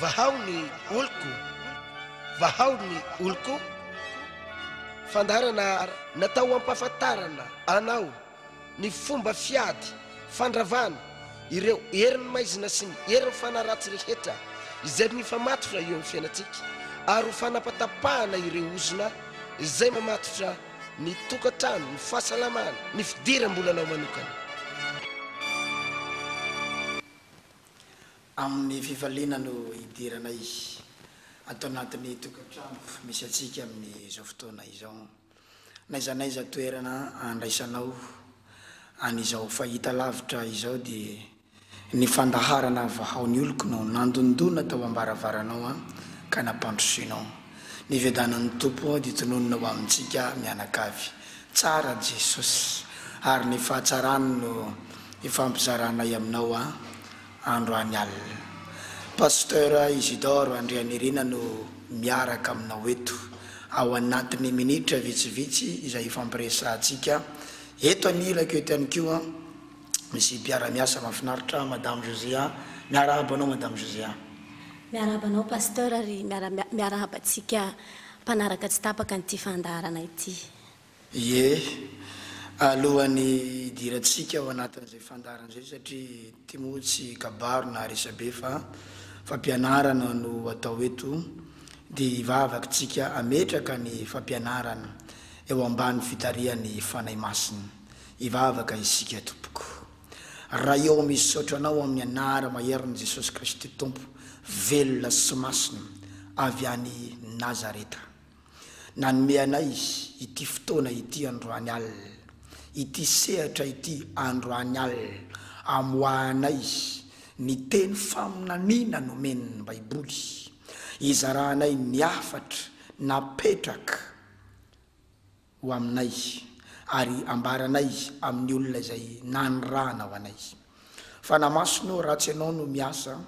Vahao ny oloko, vahao ny oloko, fandaharana natao hampahafantarana anao ny fomba fiady fandravana ireo herin'ny maizina sy ny herin'ny fanaratsy rehetra izay mifamatotra eo amin'ny fiainantsika ary ho fanapatapahana ireo ozona izay mamatotra ny tokantrano, ny fahasalamana, ny fidiram-bolanao manokana. Amin'ny fifaliana no hidirana izy ato anatin'ny tokantrano misy antsika amin'izao fotoana izao. N'aiza n'aiza toerana andraisanao an'izao fahitalavitra izao dia ny fandaharana vahaon'ny oloko no nandondona tao am-baravaranao ka nampandrosoinao. Ny fiadanan'ny Tompo dia tononina ho amintsika mianakavy. Tsara Jesosy ary ny fahatsarany no ifampizaranay aminao an! androany alina. Pasteur Isidore Andrianirina no miaraka aminao eto ao anatin'ny minitra vitsivitsy izay hifampiresahantsika. Eto ny hirako eto ihany koa an! Misy mpiara miasa mafinaritra madame Josea, miarahaba anao madame Josea. Miarahaba anao Pasteur ary miarahaba antsika mpanaraka tsy tapaka an'ity fandaharana ity. Ie, alohan'ny hidirantsika ao anatin'izay fandaharana izay satria ity moa tsy kabary na resabe fa fampianarana no atao eto dia hivavaka tsika hametraka ny fampianarana eo ambany fitarihan'ny Fanahy Masina. Hivavaka isika tompoko. Ray ô misaotra anao amin'ny anara maherin'i Jesosy Kristy Tompo velona sy masina avy any Nazareta. Nanome anay Izy ity fotoana ity androany alina, ity sehatra ity androany alina amoahanay Izy ny teny faminaniana nomen'ny Baiboly, hizarahanay ny hafatra napetraka. ho aminay ary ambaranay amin'ny olona izay nanirahana ho anay fa na masonao ratsy ianao no miasa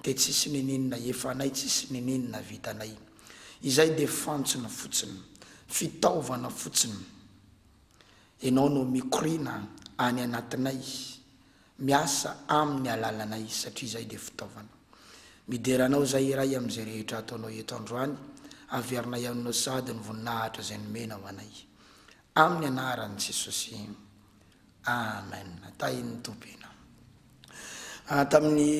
dia tsisy nenenina efanay tsisy nenenina vitanay izay dia fantsona fotsiny fitaovana fotsiny ianao no mikoriana any anatinay Miasa aminy alalana izy satria izay dia fitaovana. Midera anao izay iray amin'izay rehetra ataonao eto androany, averinay aminao sady ny voninahitra izay nomenao anay. Amin'ny anaran'i Jesosy. Amen. Tahin'ny Tompo ianao. Ah, tamin'ny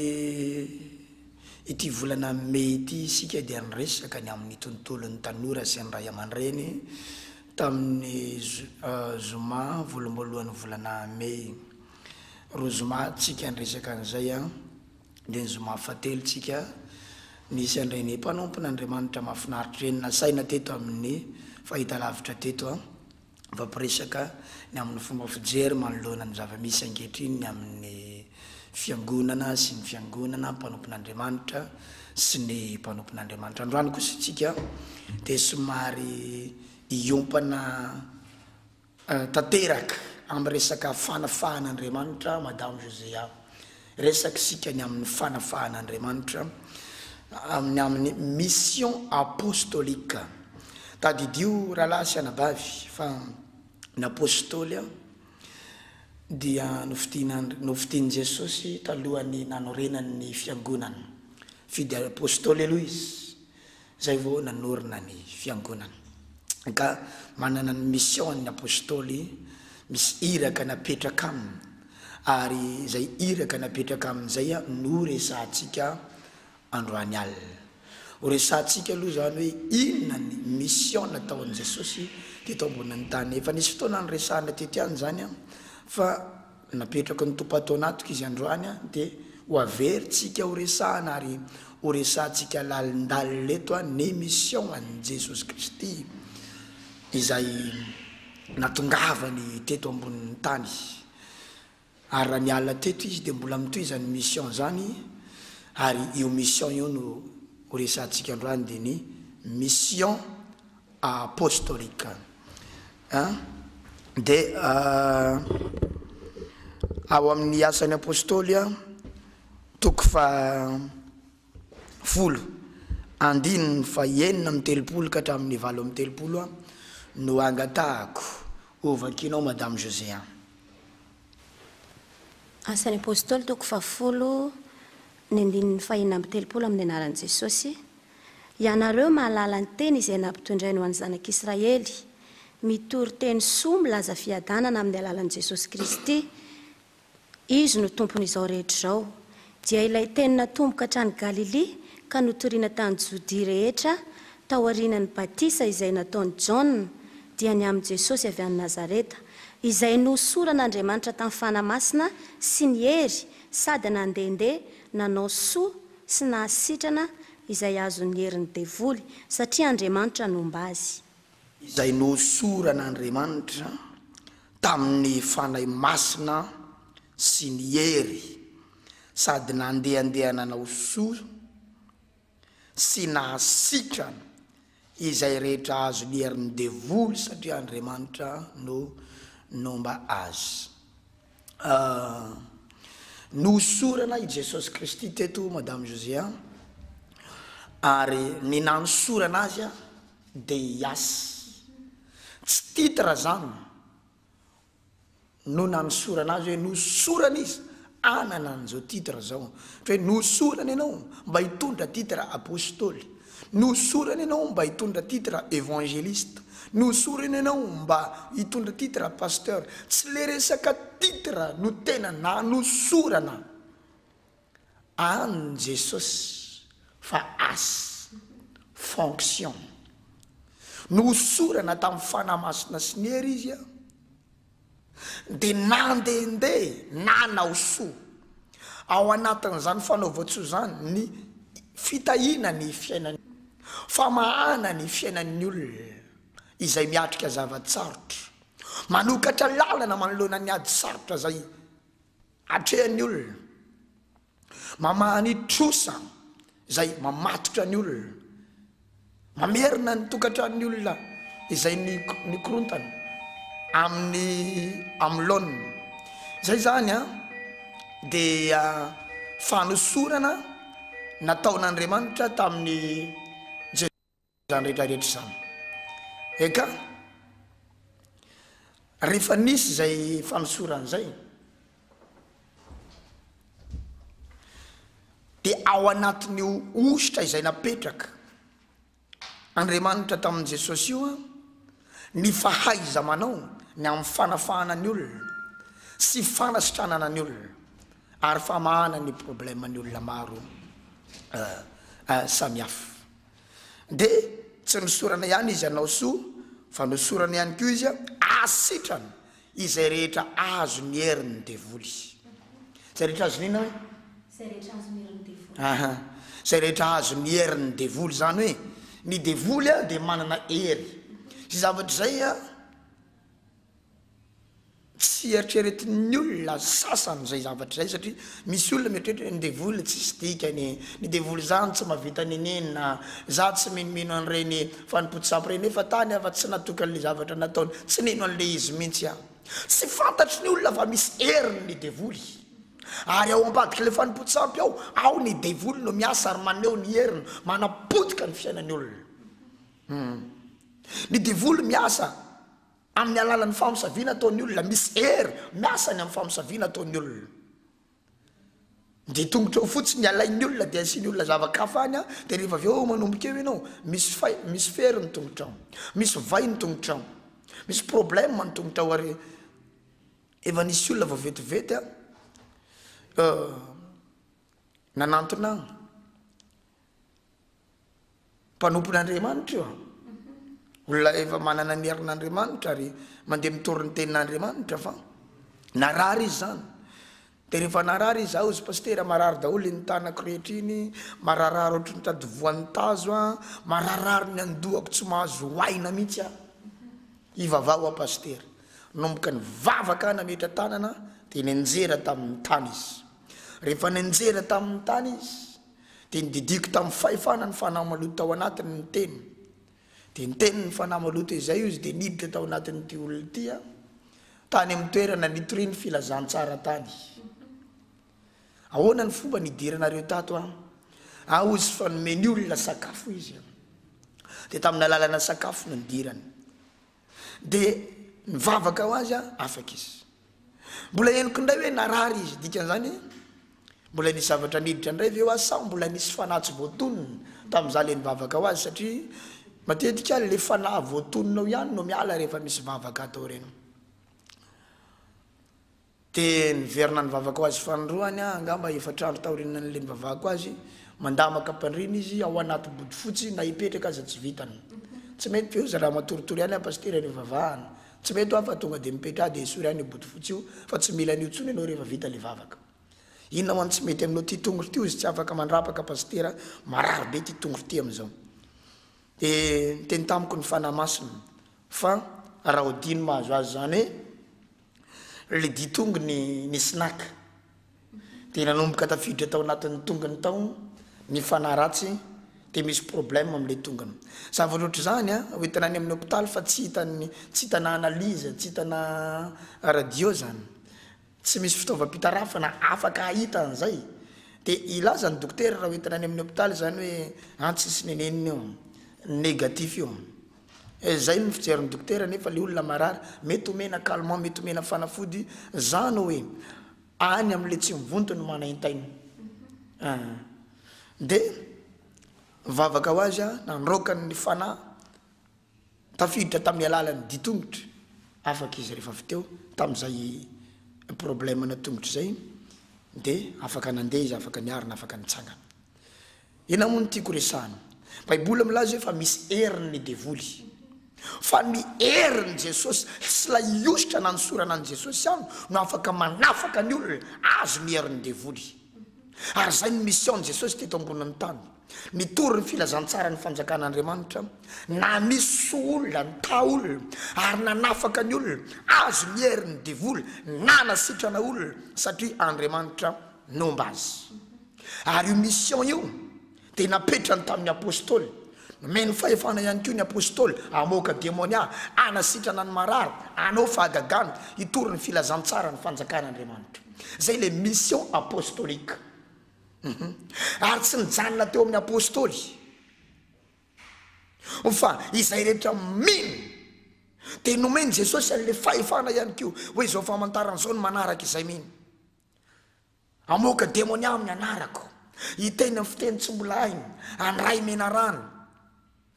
ity volana Mey ity isika dia niresaka ny amin'ny tontolon'ny tanora sy ny ray aman-dreny tamin'ny zoma voaloham-boalohan'ny volana Mey. Roa zoma tsika niresaka an'izay an, dia ny zoma fahatelo tsika nisy an'ireny mpanompon'Andriamanitra mahafinaritra ireny nasaina teto amin'ny fahitalavitra teto an, nifampiresaka ny amin'ny fomba fijery manoloana ny zava-misy ankehitriny ny amin'ny fiangonana sy ny fiangonana mpanompon'Andriamanitra sy ny mpanompon'Andriamanitra. Androany kosa tsika dia somary hiompana. tanteraka amin'ny resaka fanafahan'Andriamanitra Madame Josea. Resaka isika ny amin'ny fanafahan'Andriamanitra amin'ny amin'ny mission apostolique. Tadidio rahalahy sy anabavy fa ny apostoly dia nofidian'Andr nofidian'i Jesosy talohan'ny nanorenany ny fiangonana. Fidy apostoly aloha izy Izay vao nanorina ny Fiangonana. Ka manana ny mission ny Apostoly, misy iraka napetraka aminy, ary izay iraka napetraka aminy izay no resahantsika androany alina. Ho resahantsika aloha izany hoe inona ny mission nataon'i Jesosy teto ambonin'ny tany. Efa nisy fotoana niresahana tety ihany izany fa. Napetraky ny Tompo ato anatiko izy androany dia ho averintsika ho resahana ary ho resahantsika lalindalina eto ny mission an'i Jesosy Kristy izay natongavany teto ambonin'ny tany. Ary raha niala teto izy dia mbola mitohy izany mission izany ary io mission io no ho resahantsika androany dia ny mission apostolique. An, dia ao amin'ny Asan'ny Apôstôly an, toko fahafolo, andininy fahenina amby telopolo ka hatramin'ny valo amby telopolo an, no angatahako ho vakianao Madame José an. Asan'ny Apôstôly, toko fahafolo, ny andininy fahenina amby telopolo, amin'ny anaran'i Jesôsy. Ianareo mahalala ny teny izay nampitondrainy ho an'ny zanak'Israely. Mitory teny soa milaza fiadanana amin'ny alalan'i Jesosy Kristy. Izy no Tompon'izao rehetra izao. Dia ilay teny natomboka hatrany Galilia ka notoriana tany Jodia rehetra taorianan'ny batisa izay nataon'i Jaona dia ny amin'i Jesosy avy any Nazareta izay nohosoran'Andriamanitra tamin'ny Fanahy Masina sy ny hery sady nandehandeha nanao soa sy naha sitrana izay azon'ny herin'ny devoly, satria Andriamanitra nomba azy. Izay nohosoran'Andriamanitra tamin'ny Fanahy Masina sy ny hery, sady nandehandeha nanao soa sy naha sitrana Izay rehetra azo ny herin'ny devoly satria Andriamanitra no nomba azy. Nohosorana i Jesosy Kristy teto Madame José a! Ary ny nanosorana azy a! Deiasy. Tsy titre zany. no nanosorana azy hoe nosorana izy hanana an'izao titre izao. Ohatra hoe nosorana ianao mba hitondra titre Apostoly, nosorana ianao mba hitondra titre Evangeliste, nosorana ianao mba hitondra titre Pasteur. Tsy le resaka titre no tena nanosorana. An'ny Jesosy fa as, fonction. Nohosorana tamin'ny Fanahy Masina sy ny hery izy dia nandehandeha nanao soa. Ao anatin'izany fanaovan-tsoa izany ny fitahiana ny fiainan'ny famahana ny fiainan'ny olona izay miatrika zava-tsarotra, manokatra lalana manoloana ny ady sarotra izay. Atrehan'ny olona. Mamaha ny trosa izay mamatotra ny olona. Mamerina ny tokantranon'ny olona izay nikorontana amin'i Amlona. Izay izany an, dia fanosorana nataon'Andriamanitra tamin'i Jesosy. izany rehetra rehetra izany. Eka, rehefa nisy izay fanosorana izay, dia ao anatin'io ositra izay napetraka Andriamanitra tamin'i Jesosy io ny fahaiza-manao ny amin'ny fanafahana ny olona sy fanasitranana ny olona ary famahana ny problème ny olona maro samihafa. Dia tsy nosorana ihany izy hanao soa fa nosorana ihany koa izy hahasitrana izay rehetra azon'ny herin'ny devoly. Izay rehetra azon'ny inona hoe? Izay rehetra azon'ny herin'ny devoly. Aha, izay rehetra azon'ny herin'ny devoly. Izany hoe ny devoly dia manana hery. Izay zavatra izay. Tsy eritreretin'ny olona sasany izay zavatra izay satria misy olona mieritreritra hoe ny devoly tsisy dikany e, ny devoly izany tsy mba vita nenenina, izaho tsy minomino an'ireny fanompoan-tsampy ireny nefa tany aho fa tsy natokany ilay zavatra nataony, tsy nino an'ilay izy mihitsy aho. Tsy fantatry ny olona fa misy heriny ny devoly ary ao ambadik'ilay fanompoan-tsampy ao, ao ny devoly no miasa ary maneho ny heriny, manapotika ny fiainan'ny olona. Humm. Ny devoly miasa. Amin'ny alalan'ny famosaviana ataon'ny olona, misy hery miasa ny amin'ny famosaviana ataon'ny olona. Dia tongotra eo fotsiny ny alain'ny olona dia asian'ny olona zava-kafa any an, dia rehefa avy eo manomboka eo ianao, misy fay, misy fery ny tongotrao, misy vay ny tongotrao, misy problème ny tongotrao ary efa nisy olona vao vetivety an, nanantona an. mpanompon'Andriamanitra io an! Olona efa manana ny herin'Andriamanitra ary mandeha mitory ny tenin'Andriamanitra fa narary izy izany. Dia rehefa narary izy, zaho sy pasitera marary daholo iny tanako rehetra iny, mararirary ohatry ny tady voan'ny tazo an, mararirary ny an-dohako tsy mahazo aina mihitsy aho. Hivavaha ho'a pasitera. Nanomboka nivavaka aho nametra-tanana dia nianjera tamin'ny tany izy. Rehefa nianjera tamin'ny tany izy, Dia nodidiako tamin'ny fahefana ny fanahy maloto tao anatiny ny Teny. Dia niteny ny fanahy maloto izay ozy dia niditra tao anatin'ity olona ity aho, tany amin'ny toerana nitoriany filazantsara tany. Ahoana ny fomba nidiranareo tato an? An, ozy fa nomeny olona sakafo izy an. Dia tamin'ny alalana sakafo no nidirany. dia nivavaka ho azy aho, afaka izy. Mbola henoko indray hoe narary izy, dikan'izany hoe mbola nisy zavatra niditra indray ve ho azy sa mbola nisy fanahy tsy voatonona tamin'izaho ilay nivavaka ho azy satria matetika ilay fanahy voatonona ao ihany no miala rehefa misy vavaka atao ireny. Dia niverina nivavaka ho azy fanindroany aho, angamba efatra andro taorian'ilay nivavahako azy. Mandama kapa-ndriana izy ao anaty bodofotsy, na hipetraka aza tsy vitany. Tsy mety ve ho zara matoritory ihany aho Pasitera eo ivavahana? Tsy mety hoa fa tonga dia mipetra aho dia esory any io bodofotsy io fa tsy mila an'io intsony ianao rehefa vita ilay vavaka. Inona ho'an tsy mety amin'io ity tongotro ity hozy tsy afaka mandrapaka Pasitera, marary be ity tongotro ity amin'izao. Dia niteny tamiko ny Fanahy Masina fa raha hodino mahazo azy izany hoe. Le ditongony nisy naka de nanomboka tafiditra tao anatin'ny tongony tao ny fanahy ratsy de misy problème amle tongony. Zava loatra izany a, hoentina any amin'ny hôpital fa tsy hitan'ny tsy hitana analyse, tsy hitana radio izany. Tsy misy fitaovam-pitarafana afaka hahita an'izay. De hilaza ny dokotera raha hoentina any amin'ny hôpital izany hoe an tsisy nenenina io, négatif io. Eh zay no fijerin'ny dokotera nefa le olona marary mety omena calmant mety omena fanafody zany oe any amle tsy mivonto no manaintaina ah de nivavaka ho azy aho nandroaka ny fanahy tafiditra tamin'ny alalan'ny dia tongotro afaka izy rehefa avy teo tamin'izay problème ana tongotro zay de afaka nandeha izy afaka niarina afaka nitsangana Inona moa no tiako resahina? Baiboly milaza hoe fa misy heriny ny devoly. Fa ny herin'i Jesosy sy ilay hosotra nanosorana an'i Jesosy ihany no afaka manafaka ny olona azy ny herin'ny devoly. Ary izay no mission-n'i Jesosy teto ambonin'ny tany. Nitory ny filazantsaran'ny fanjakan'Andriamanitra, naniso olona, nitaha olona, ary nanafaka ny olona azy ny herin'ny devoly, nanasitrana olona satria Andriamanitra nomba azy. Ary io mission io dia napetrany tamin'ny Apostoly. Nomeny fahefana ihany koa ny Apostoly hamoaka demonia, hanasitrana ny marary, hanao fahagagana, hitory ny filazantsara ny fanjakan'Andriamanitra. Izay ilay mission apostolique. Uhum. Ary tsy nijanona teo amin'ny Apostoly. Ho fa izay rehetra mino. Dia nomen'i Jesosy an'ilay fahefana ihany koa hoe izao famantarana izao ny manaraka izay mino. Hamoaka demonia amin'ny anarako. Hiteny amin'ny fiteny tsy mbola hainy. Handray menarana.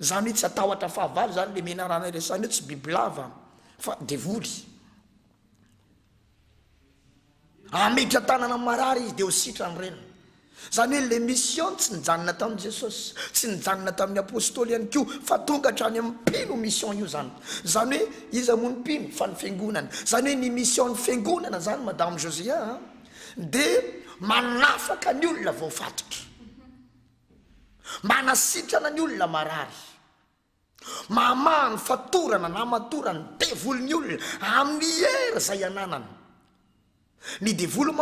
Izany hoe tsy hatahotra fahavalo izany ilay menarana iresahina eo, tsy bibilava fa devoly. Hametra tanana amin'ny marary izy dia ho sitrany reniny. Izany hoe ilay mission tsy nijanona tamin'i Jesosy, tsy nijanona tamin'ny apostoly ihany koa fa tonga hatrany amin'ny mpino io mission io izany. Izany hoe iza moa ny mpino fa ny fiangonana. Izany hoe ny mission-n'ny fiangonana izany Madame Josia a! dia manafaka ny olona voafatotra, manasitrana ny olona marary, mamaha ny fatorana na matora ny devolin'ny olona amin'ny hery izay ananany. Ny devoly